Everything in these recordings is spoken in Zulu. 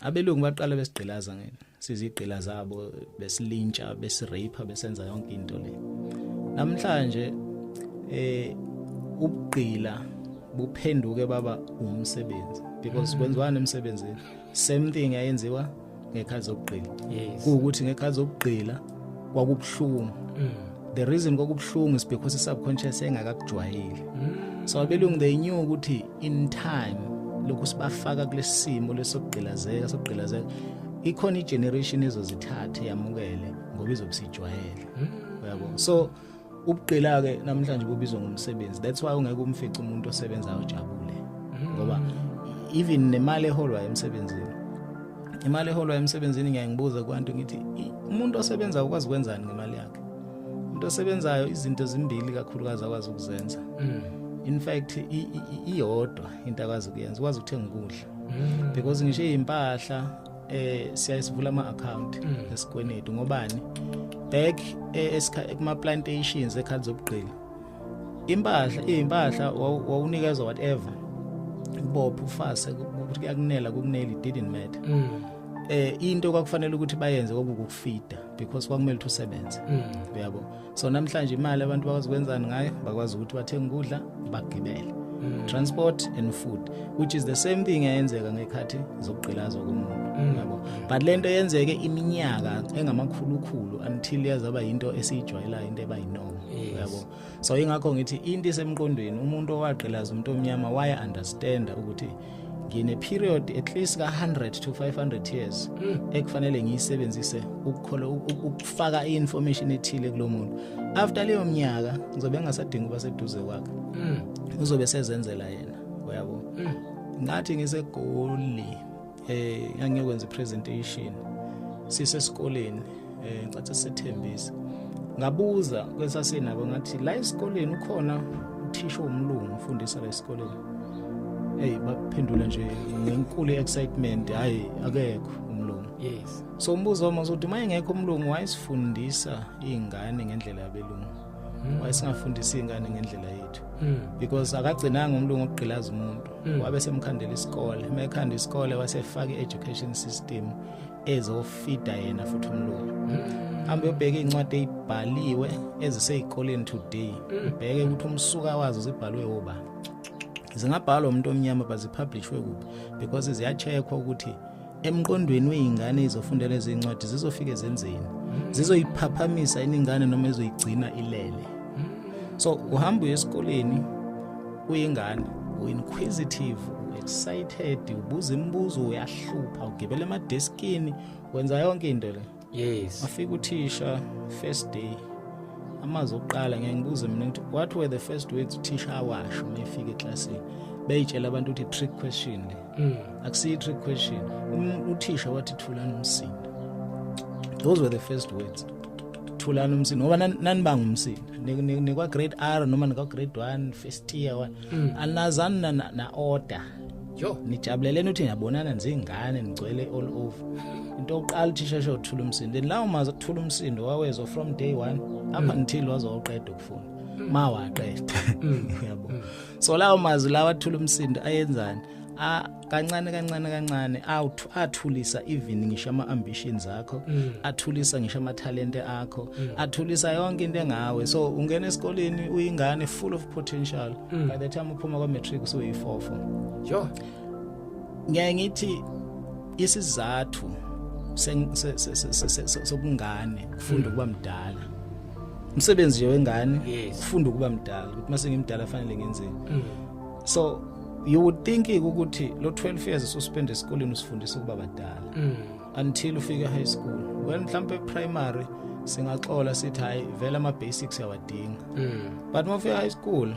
abelungu baqala besigqilaza ngene sizigqila zabo besilintsha besirape besenza yonke into le namhlanje eh ubugqila buphenduke baba umsebenzi because mm. kwenziwani emsebenzini same thing ayenziwa ngekhazi zokugqila kuwukuthi ngekhazi zokugqila kwakubuhlungu mm. the reason kwakubuhlungu is because i subconscious engakakujwayeli mm. so abelungu they knew ukuthi in time lokhu sibafaka kulesimo lesokugqilazeka sokugqilazeka ikhona igeneration ezozithatha yamukele ngoba izobusijwayele hmm. uyabo so ubugqila ke namhlanje kubizwa ngomsebenzi that's why ungeke umfice umuntu osebenzayo ojabule hmm. ngoba even nemali eholwa emsebenzini imali eholwa emsebenzini ngiyangibuza kwantu ngithi umuntu osebenza ukwazi kwenzani ngemali yakhe umuntu osebenzayo izinto zimbili kakhulukazi akwazi ukuzenza mm. in fact iyodwa into akwazi ukuyenza ukwazi ukuthenga ukudla mm. because ngisho izimpahla eh siyayisivula ama account mm. esikwenetu ngobani back eh, kuma plantations ekhali zobugqili impahla izimpahla wawunikezwa whatever ubopha ufase ukuthi kuyakunela kukuneli didn't matter eh into kwakufanele ukuthi bayenze kwakukufida because kwakumele ukuthi usebenze mm. uyabo so namhlanje imali abantu bakwazi kwenzani ngayo bakwazi ukuthi bathenge ukudla bagibele mm. transport and food which is the same thing eyenzeka ngekhathi zokugqilazwa komuntu mm. yabo but lento yenzeke iminyaka engamakhulukhulu until yazaba into esiyijwayelayo into eba yinoma yabo so ingakho ngithi into isemqondweni umuntu owagqilaza umuntu omnyama waya understand ukuthi ngine period at least ka 100 to 500 years hmm. ekufanele ngiyisebenzise ukukhola ukufaka iinformation ethile kulomuntu after leyo mnyaka ngizobe ngasadinga uba seduze kwakhe hmm. uzobe sezenzela yena uyabo hmm. ngathi ngisegoli eh ngangiyokwenza presentation sisesikoleni eh ngicathe sethembisa ngabuza kwesasinabo ngathi la esikoleni ukhona uthisha omlungu ufundisa la esikoleni hey baphendula nje ngenkulu excitement hayi akekho umlungu yes so umbuzo wami uzothi mayengekho umlungu wayesifundisa izingane ngendlela yabelungu mm. wayesingafundisa izingane ngendlela yethu mm. because akagcinanga umlungu ogqilaza umuntu mm. wabe semkhandela isikole mekhanda isikole wasefaka i-education system ezofida yena futhi umlungu hambe ubheke incwadi ezibhaliwe ezisezikoleni today ubheke ukuthi umsuka wazo zibhalwe oba zingabhalwa umuntu omnyama bazipublishwe kuphi because ziyacheckwa ukuthi emqondweni weyingane izofunda lezi incwadi zizofike zenzeni hmm. zizoyiphaphamisa iningane noma ezoyigcina ilele hmm. so uhamba uye esikoleni uyingane uinquisitive excited ubuza imibuzo uyahlupha ugibela emadeskini wenza yonke into le yes wafika uthisha first day amazwi okuqala ngeke ngibuze mina ukuthi what were the first words uthisha awasho uma efika eklasini beyitshela abantu ukuthi trick question le mm. akusiyi trick question um, uthisha wathi thulani umsindo those were the first words thulani umsindo ngoba nanibanga umsindo nikwa grade r noma nikwa grade one first year one mm. anazani na-order yo nijabuleleni ukuthi niyabonana nizingane nigcwele all over into yokuqala uthisha sho uthula umsindo and lawo mazi ukuthula umsindo wawezwa from day 1 up mm. until waze waqeda ukufunda mm. ma waqeda mm. yabo so lawo mazi lawa athula umsindo ayenzani a kancane kancane kancane awuthu athulisa even ngisho ama ambitions akho mm. athulisa ngisho ama talent akho mm. athulisa yonke into engawe so ungena esikoleni uyingane full of potential mm. by the time uphuma kwa matric usuyifofo jo ngeke ngithi isizathu sokungane kufunda ukuba mdala umsebenzi nje wengane kufunda ukuba mdala ukuthi mase ngimdala fanele ngenzeni mm. so you would think ukuthi lo 12 years ususpend esikoleni usifundisa ukuba badala mm. until ufike high school well mhlambe primary singaxola sithi hayi vele ama basics yawadinga mm. but uma ufika high school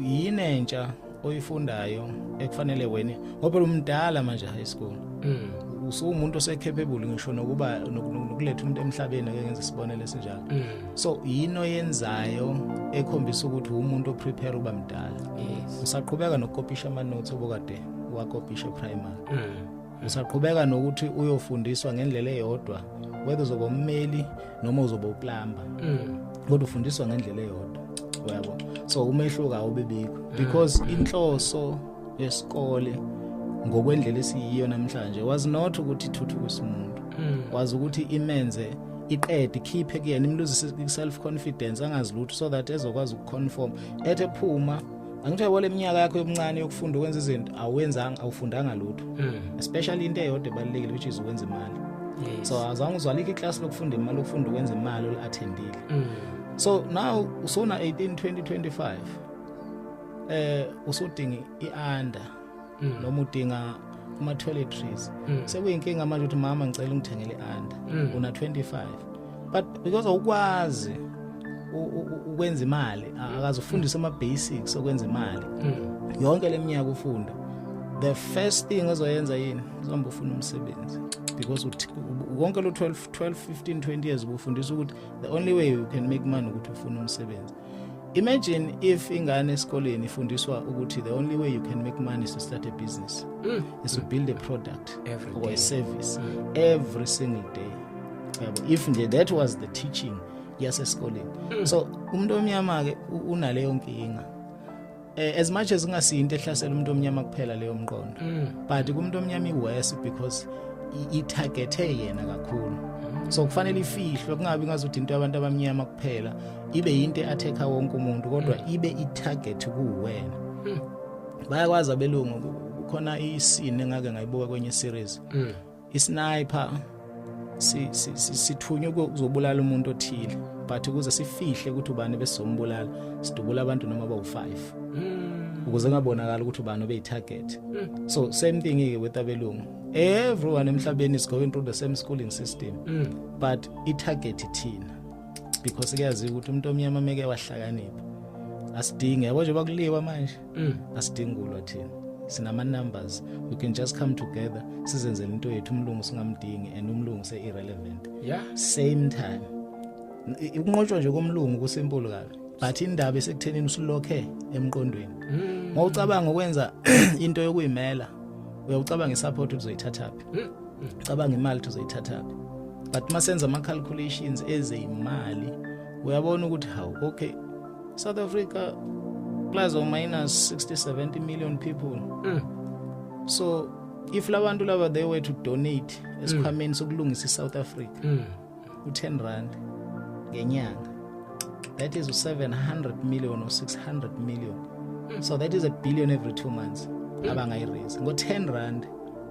yini entsha oyifundayo ekufanele wena ngoba umdala manje high school mm. usuwumuntu osekhepebule ngisho nokuba nokuletha umuntu emhlabeni ake ngenze isibonelo esinjalo mm. so yini oyenzayo ekhombisa ukuthi umuntu oprepare uba mdala yes. usaqhubeka nokukopisha amanothi obokade wakopisha primary mm. Usaqhubeka nokuthi uyofundiswa ngendlela eyodwa whether uzoba ummeli noma uzoba uplamba. Mm. Kodwa ufundiswa ngendlela eyodwa. Uyabo? So umehluko awubibikho mm. because inhloso yesikole ngokwendlela esiyiyo namhlanje was not ukuthi ithuthukise umuntu. Mm. Was ukuthi imenze iqede ikhiphe kuyena imluzise self confidence angazi lutho so that ezokwazi ukuconform ethe phuma angithiwe wole minyaka yakho yobuncane yokufunda ukwenza izinto awenzanga awufundanga lutho hmm. especially into eyodwa ebalulekile which is ukwenza imali yes. so azange uzwalikho iclass lokufunda imali ukufunda ukwenza imali olu-attendile mm. so now usona 18 2025 eh usudinga i-under mm. noma udinga kuma toiletries mm. sekuyinkinga manje ukuthi mama ngicela ungithengele under mm. una 25 but because awukwazi ukwenza imali akazufundisa ama basics okwenza imali mm. yonke leminyaka ufunda the first thing ozoyenza yini uzohamba ufuna umsebenzi because konke lo 12 12 15 20 years ubufundisa ukuthi the only way you can make money ukuthi ufuna umsebenzi imagine if ingane esikoleni ifundiswa ukuthi the only way you can make money is to start a business mm. is to build a product every or day. a service mm. every single day if nje that was the teaching yasesikoleni mm. so umuntu omnyama ke unaleyo nkinga Eh, as much as kungasiyo into ehlasela umuntu omnyama kuphela leyo mqondo mm. but kumuntu omnyama iworse because ithagethe yena kakhulu mm. so kufanele ifihlwe kungabi ngazuthi into yabantu abamnyama kuphela ibe yinto eatheka wonke umuntu kodwa mm. ibe itarget kuwena bayakwazi abelungu khona isini engake ngayibuka kwenye series isniper sithunywe ukuzobulala umuntu othile but ukuze sifihle ukuthi ubani besombulala sidubula abantu noma bawu5 hmm. ukuze ngabonakala ukuthi ubani obeyitarget hmm. so same thing ke with abelungu everyone emhlabeni is going through the same schooling system hmm. but itarget ithina because kuyaziwa ukuthi umuntu omnyama meke wahlakanipha asidinge yabo nje bakuliwa manje mm. asidingi kulwa thina sinama numbers we can just come together sizenzele into yethu umlungu singamdingi and umlungu se irrelevant yeah same time ukunqotshwa nje komlungu kusimple kabi but indaba esekuthenini usilokhe emqondweni mm. ngocabanga ukwenza into yokuyimela uyawucabanga isupport uzoyithathaphi mm. mm. cabanga imali uzoyithathaphi but masenza ama calculations ezeyimali uyabona ukuthi hawu okay South Africa plus or minus 60 70 million people mm. so if labantu laba they were to donate esikhwameni mm. sokulungisa iSouth Africa mm. u10 rand ngenyanga that is 700 million or 600 million mm. so that is a billion every 2 months mm. abangayi raise ngo 10 rand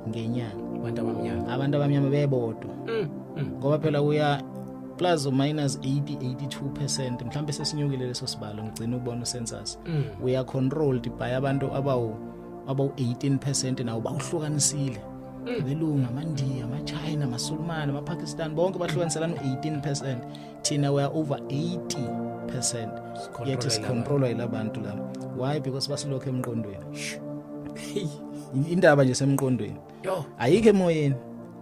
ngenyanga abantu abamnyama abantu abamnyama bebodwa mm. mm. ngoba phela uya plus or minus 80 82% mhlawumbe sesinyukile leso sibalo ngigcina ubona usensus mm. we are controlled by abantu abawu abawu 18% nawo bawuhlukanisile mm. belungu amandiya amachina amasulumane amapakistan bonke bahlukaniselana u-18 thina we are over 80 yet sicontrolwa yila bantu laba why because basilokho emqondweni indaba nje semqondweni Yo. Ayike emoyeni.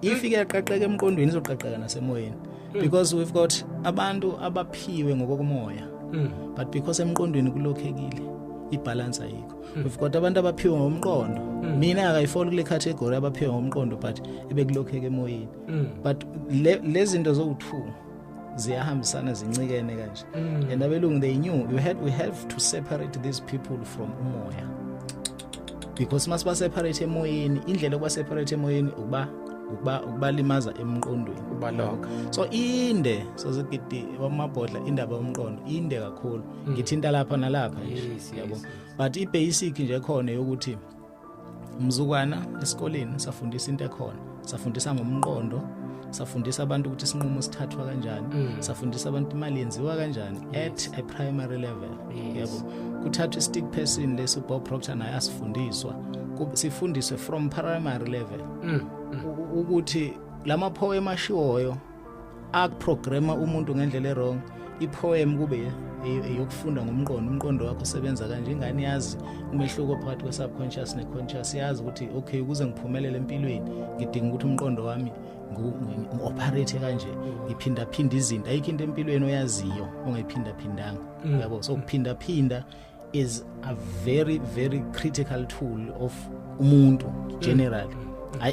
If iyaqaqeka emqondweni izoqaqeka nasemoyeni. Hmm. Because we've got abantu abaphiwe ngokokumoya. Hmm. But because emqondweni kulokhekile. ibalance ayikho hmm. we've got abantu abaphiwe ngomqondo mina akayifoli kule category abaphiwe ngomqondo but ebekulokheke emoyeni but lezinto zowu2 ziyahambisana zincikene kanje mm. and abelungu they knew you had we have to separate these people from umoya because mase baseparate emoyeni indlela yokuba separate emoyeni ukuba ukuba ukubalimaza emqondweni ubaloka so inde sozigidi wamabhodla indaba yomqondo inde kakhulu mm. ngithinta lapha nalapha yabo but i basic nje khona yokuthi mzukwana esikoleni safundisa into ekhona safundisa ngomqondo safundisa abantu ukuthi isinqumo sithathwa kanjani mm. safundisa abantu imali yenziwa kanjani yes. at a primary level yes. yabo kuthathwa istick person lesi Bob Proctor naye asifundiswa sifundiswe from primary level mm. Mm. ukuthi lama poem ashiwoyo akuprograma umuntu ngendlela erong ipoem kube eyokufunda ngomqondo umqondo wakho usebenza kanje ingane yazi umehluko phakathi kwe-subconscious ne-conscious yazi ukuthi okay ukuze ngiphumelele empilweni ngidinga ukuthi umqondo wami ngi-operate kanje ngiphindaphinde izinto ayikho into empilweni oyaziyo ongayiphindaphindanga mm. yabo so kuphindaphinda is a very very critical tool of umuntu generally mm. ay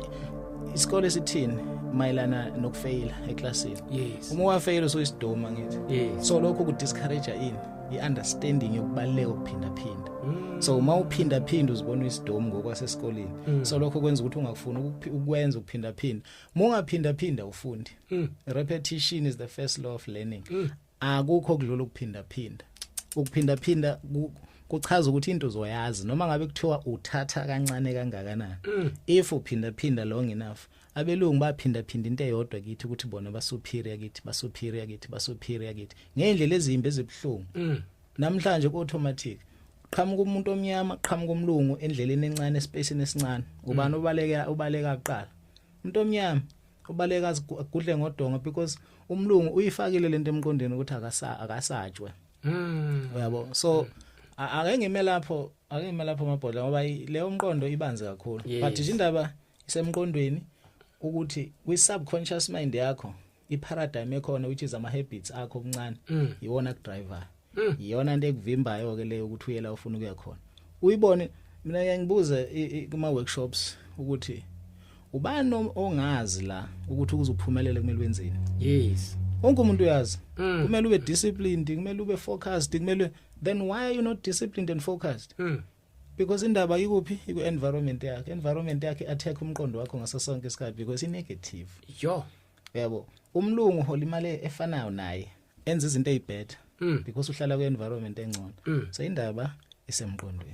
isikole sithini mayelana nokufeyila eclassini yes uma wafeyila so isidoma ngithi yes. so lokho ku discourage ini i-understanding yokubaluleka ukuphinda phinda mm. so uma uphinda phinda uzibona isidomu ngokwasesikoleni mm. so lokho kwenza ukuthi ungakufuni ukwenza ukuphinda phinda uma ungaphinda phinda ufundi mm. repetition is the first law of learning mm. akukho kudlula ukuphinda phinda ukuphinda phinda kuchaza ukuthi into uzoyazi noma ngabe kuthiwa uthatha kancane kangakanani mm. if uphinda phinda long enough abelungu baphinda phinda into eyodwa kithi ukuthi bona basuperior kithi basuperior kithi basuperior kithi ngendlela ezimbi ezibhlungu mm. namhlanje ku automatic qhamuka umuntu omnyama qhamuka umlungu endleleni encane espacini esincane ubani mm. ubaleka ubaleka kuqala umuntu omnyama ubaleka agudle ngodongo because umlungu uyifakile lento emqondweni ukuthi akasa akasatshwe mm uyabo so mm. ake ngime lapho ake ngime lapho amabhodla ngoba leyo mqondo ibanzi kakhulu yes. but nje indaba isemqondweni ukuthi kwi subconscious mind yakho i paradigm ekhona which is ama habits akho okuncane mm. iwona ku driver Mm. iyona into ekuvimbayo ke leyo ukuthi uyela ufuna ukuya khona uyibone mina ngiyangibuza kuma workshops ukuthi ubani ongazi la ukuthi ukuze uphumelele kumele wenzeni yes wonke umuntu uyazi mm. kumele ube disciplined kumele ube focused kumele then why are you not disciplined and focused mm. because indaba ikuphi iku environment yakhe environment yakhe attack umqondo wakho ngaso sonke isikhathi because i negative yo yabo umlungu holimale efanayo naye enza izinto ezibhetter mm. because uhlala kwi environment engcono mm. so indaba isemqondweni